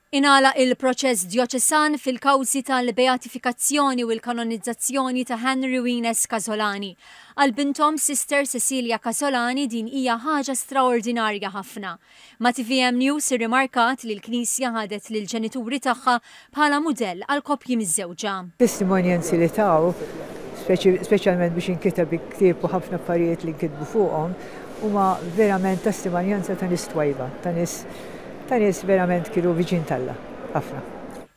Ingħalaq il-proċess djoċesan fil-kawżi tal-beatifikazzjoni u l-kanonizzazzjoni ta' Henry u Ines Casolani. Għal binthom Sister Cecilia Casolani din hija ħaġa straordinarja ħafna. Ma' tvm News irrimarkat li l-Knisja ħadet lill-ġenituri tagħha bħala mudell għal koppji miżżewġa. Testimonjanzi li taw, speċjalment biex inkiteb il-ktieb u ħafna affarijiet li nkitbu fuqhom, huma verament testimonjanza ta' nies twajba, ta' nies, Ta' nies verament kienu viċin t'Alla ħafna.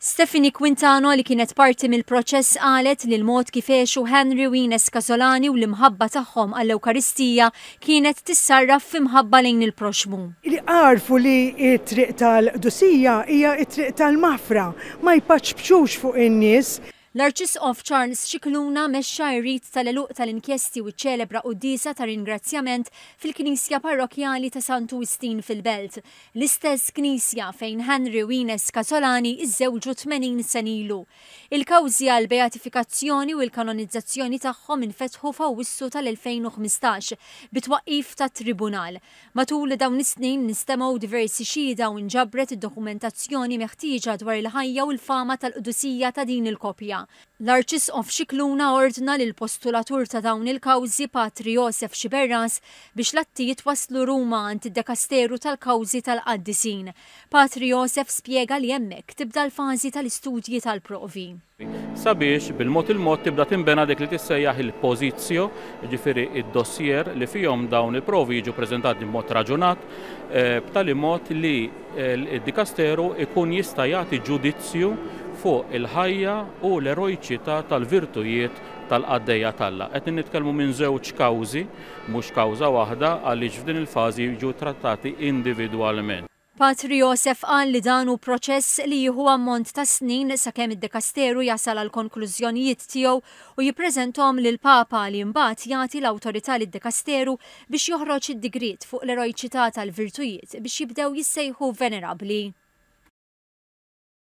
Stephanie Quintano li kienet parti mill-proċess qalet li l-mod kif għexu Henry u Ines Casolani u l-imħabba tagħhom għall-Ewkaristija kienet tissarraf fi mħabba lejn il-proxxmu. Li għarfu li t-triq tal-qdusija hija t-triq tal-maħfra, ma jpaċpċux fuq in-nies. L-Arċisqof Charles Scicluna mexxa r-rit tal-għeluq tal-inkjesti u ċċelebra quddiesa ta' ringrazzjament fil-Knisja Parrokkjali ta' Santu Wistin fil-Belt, l-istess knisja fejn Henry u Ines Casolani żżewġu 80 sena ilu. Il-kawżi għall-beatifikazzjoni u l-kanonizzazzjoni tagħhom infetħu f'Awwissu tal-2015 bit-twaqqif ta' tribunal. Matul dawn is-snin instemgħu diversi xhieda u nġabret id-dokumentazzjoni meħtieġa dwar il-ħajja u l-fama tal-qdusija ta' din il-koppja. L-Arċisqof Scicluna ordna lill-postulatur ta' dawn il-kawżi, Patri Josef Sciberras, biex l-atti jitwasslu Ruma għand id-dekasteru tal-kawżi tal-qaddisin. Patri Josef spjega li hemmhekk tibda l-fażi tal-istudji tal-provi. sabiex bil-mod il-mod tibda tinbena dik li tissejjaħ il-positio, jiġifieri d-dossier li fihom dawn il-provi jiġu ppreżentati b'mod raġunat, b'tali mod li d-dikasteru jkun jista' jagħti ġudizzju fuq il-ħajja u l-erojċità tal-virtujiet tal-qaddejja t'Alla. Qed nitkellmu minn żewġ kawżi, mhux kawża waħda, għaliex f'din il-fażi jiġu ttrattati individwalment. Patri Joseph qal li dan hu proċess li jieħu ammont ta' snin sakemm id-dekasteru jasal għall-konklużjonijiet tiegħu u jippreżentahom lill-Papa li imbagħad jagħti l-awtorità lid-dekasteru biex joħroġ id-digriet fuq l-erojċità tal-virtujiet biex jibdew jissejħu venerabbli.